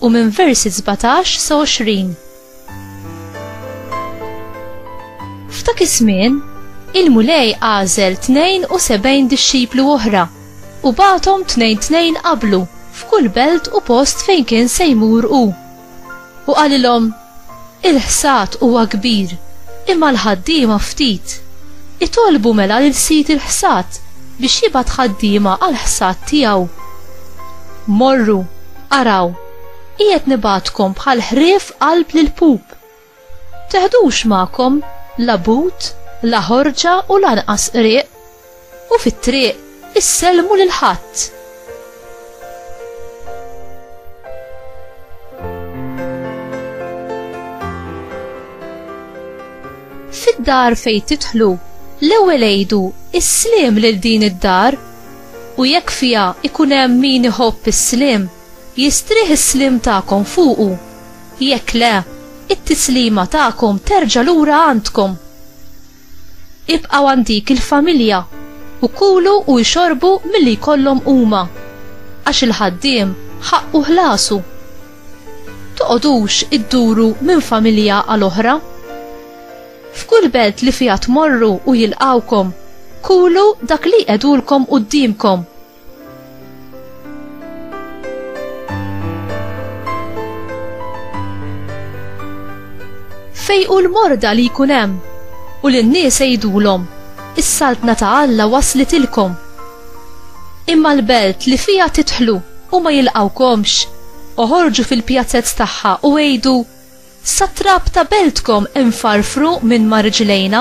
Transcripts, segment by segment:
u minn versi 17 sa 20. F'dak iż-żmien, il-Mulej għażel 72 dixxiplu oħra u bagħathom tnejn tnejn qablu f'kull belt u post fejn kien se jmur hu. U qalilhom, Il-ħsad huwa kbir, imma l-ħaddiema ftit. Itolbu mela lil sid il-ħsad biex jibgħat ħaddiema għall-ħsad tiegħu. Morru, araw, qiegħed nibgħatkom bħal ħrief qalb l-pup. Teħdux magħkom la but, la ħorġa u lanqas qrieq. u fit-triq issellmu lil ħadd. Fid-dar fejn tidħlu, l-ewwel għidu is-sliem lil din id-dar u jekk fiha ikun hemm min iħobb is-sliem, jistrieħ is-sliem tagħkom fuqu. Jekk le, it-tislima tagħkom terġa' lura għandkom. Ibqgħu għand dik il-familja u kulu u ixorbu milli jkollhom huma, għax il-ħaddiem ħaqqu ħlasu. Toqgħodux idduru minn familja għal oħra. F'kull belt li fiha tmorru u jilqgħukom, kulu dak li jqegħdulkom quddiemkom. Fejqu l-morda li jkun hemm u lin-nies għidulhom, is-saltna ta' Alla waslitilkom. Imma l-belt li fiha tidħlu u ma jilqawkomx, oħorġu fil-pjazzez tagħha u għidu, Satrap ta' beltkom infarfru minn ma' riġlejna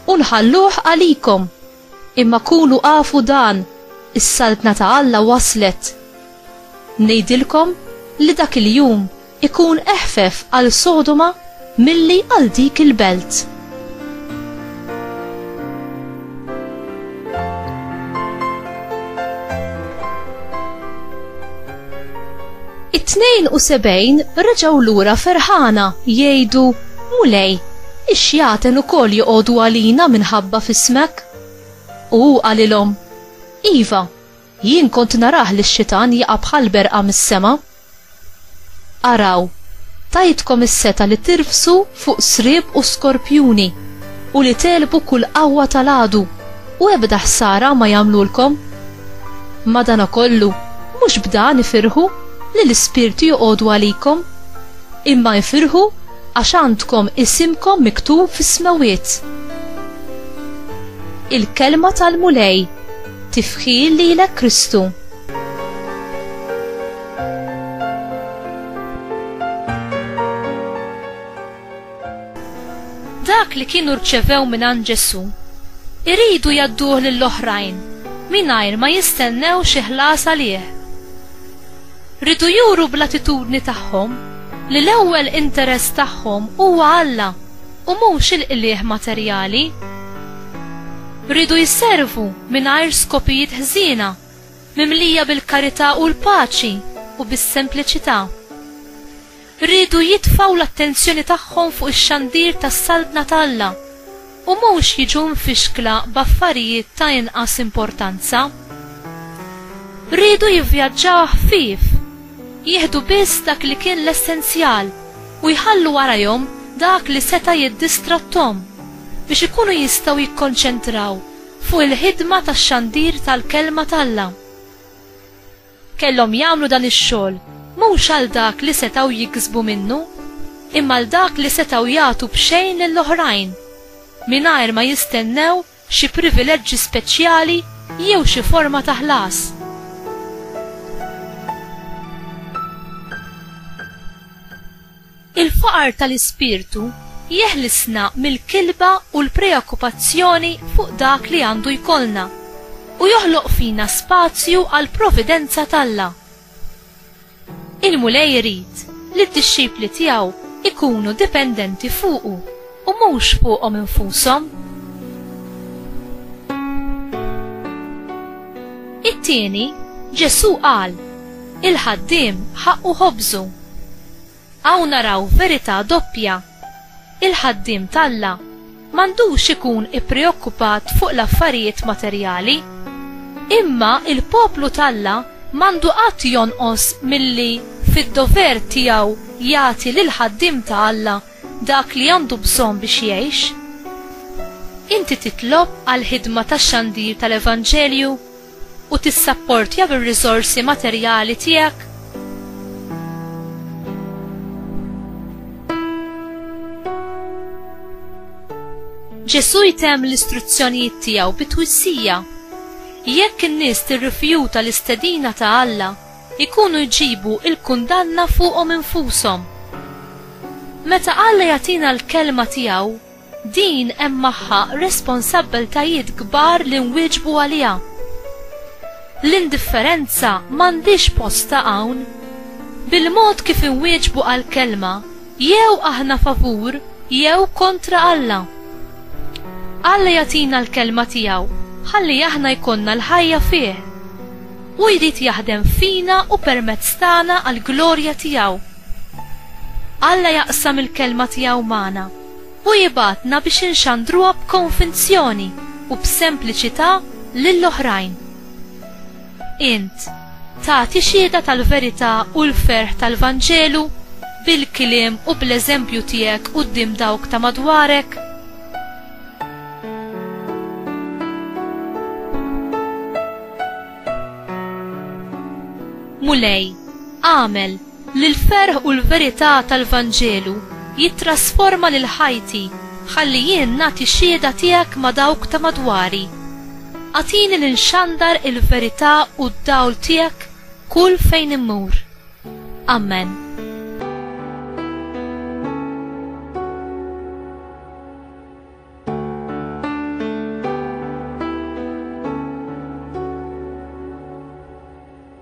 u nħalluh għalikom. Imma kunu afu dan, is-Saltna ta' Alla waslet! Ngħidilkom li dak il-jum ikun eħfef għal Sodoma milli għal dik il-belt. It-72 reġgħu lura ferħana jgħidu, Mulej, ix-xjaten ukoll joqogħdu għalina minħabba f'ismek. U hu qalilhom, Iva, jien kont narah lix-xitan jaqa' bħal berqa mis-sema. Araw, tajtkom is-setgħa li tirfsu fuq sriep u skorpjuni, u li tegħlbu kull qawwa tal-għadu. u ebda ħsara ma jagħmlulkom. Madanakollu, mhux b'dan ifirħu li l-ispirti joqogħdu għalikom, imma ifirħu għax għandkom isimkom miktub fis-smewwiet. Il-Kelma tal-Mulej, tifħir lilek Kristu. Dak li kienu rċevew mingħand Ġesù, iridu jgħadduh lill-oħrajn mingħajr ma jistennew xi ħlas għalih. Ridu juru bl-attitudni tagħhom li l-ewwel interess tagħhom huwa Alla u mhux il-qligħ materjali. Ridu jservu mingħajr skopijiet ħżiena, mimlija bil-karità u l-paċi u bis-sempliċità. riedu jitfgħu l-attenzjoni tagħhom fuq ix-xandir tas-Saltna ta' Alla u mhux jiġu mfixkla b'affarijiet ta' inqas importanza. Riedu jivvjaġġaw ħfief, jieħdu biss dak li kien l-essenzjal u jħallu warajhom dak li seta' jiddistratthom biex ikunu jistgħu jikkonċentraw fuq il-ħidma tax-xandir tal-Kelma t'Alla. Kellhom jagħmlu dan ix-xogħol mhux għal dak li setgħu jiksbu minnu, imma għal dak li setgħu jagħtu b'xejn lil oħrajn, mingħajr ma jistennew xi privileġġi speċjali jew xi forma ta' ħlas. Il-faqar tal-ispirtu jeħlisna mill-kilba u l-preokkupazzjoni fuq dak li għandu jkollna, u joħloq fina spazju għall-providenza t'Alla. Il-Mulej irid li d-dixxipli tiegħu jkunu dipendenti fuqu u mhux fuqhom infushom. It-tieni, Ġesù qal, Il-ħaddiem ħaqqu ħobżu. Hawn naraw verità doppja. Il-ħaddiem t'Alla m'għandux ikun ippreokkupat fuq l-affarijiet materjali. Imma l-poplu t'Alla m'għandu qatt jonqos milli fid-dover tiegħu jagħti lill-ħaddiem ta' Alla dak li għandu bżonn biex jgħix. Inti titlob għall-ħidma tax-xandir tal-evanġelju u tissapportja bir-riżorsi materjali tiegħek? Ġesù jtemm l-istruzzjonijiet tiegħu bi twissija. Jekk in-nies tirrifjuta l-istedina ta' Alla, ikunu jġibu il-kundanna fuqhom infushom. Meta Alla jagħtina l-kelma tiegħu, Din hemm magħha responsabbiltajiet kbar li nwieġbu għaliha. L-indifferenza m'għandhiex postha hawn. Bil-mod kif inwieġbu għall-Kelma, jew aħna favur jew kontra Alla. Alla jagħtina l-Kelma tiegħu ħalli aħna jkollna l-ħajja fih. Hu jrid jaħdem fina u permezz tagħna għall-glorja tiegħu. Alla jaqsam il-Kelma tiegħu magħna. Hu jibgħatna biex inxandruha b'konvinzjoni u b'sempliċità lil oħrajn. Int tagħti xhieda tal-verità u l-ferħ tal-Vanġelu bil-kliem u bl-eżempju tiegħek quddiem dawk ta' madwarek? Mulej, agħmel Li l-ferħ u l-verità tal-Vanġelu jittrasforma lil ħajti ħalli jien nagħti xhieda tiegħek ma' dawk ta' madwari. Agħtini li nxandar il-verità u d-dawl tiegħek kull fejn immur. Amen.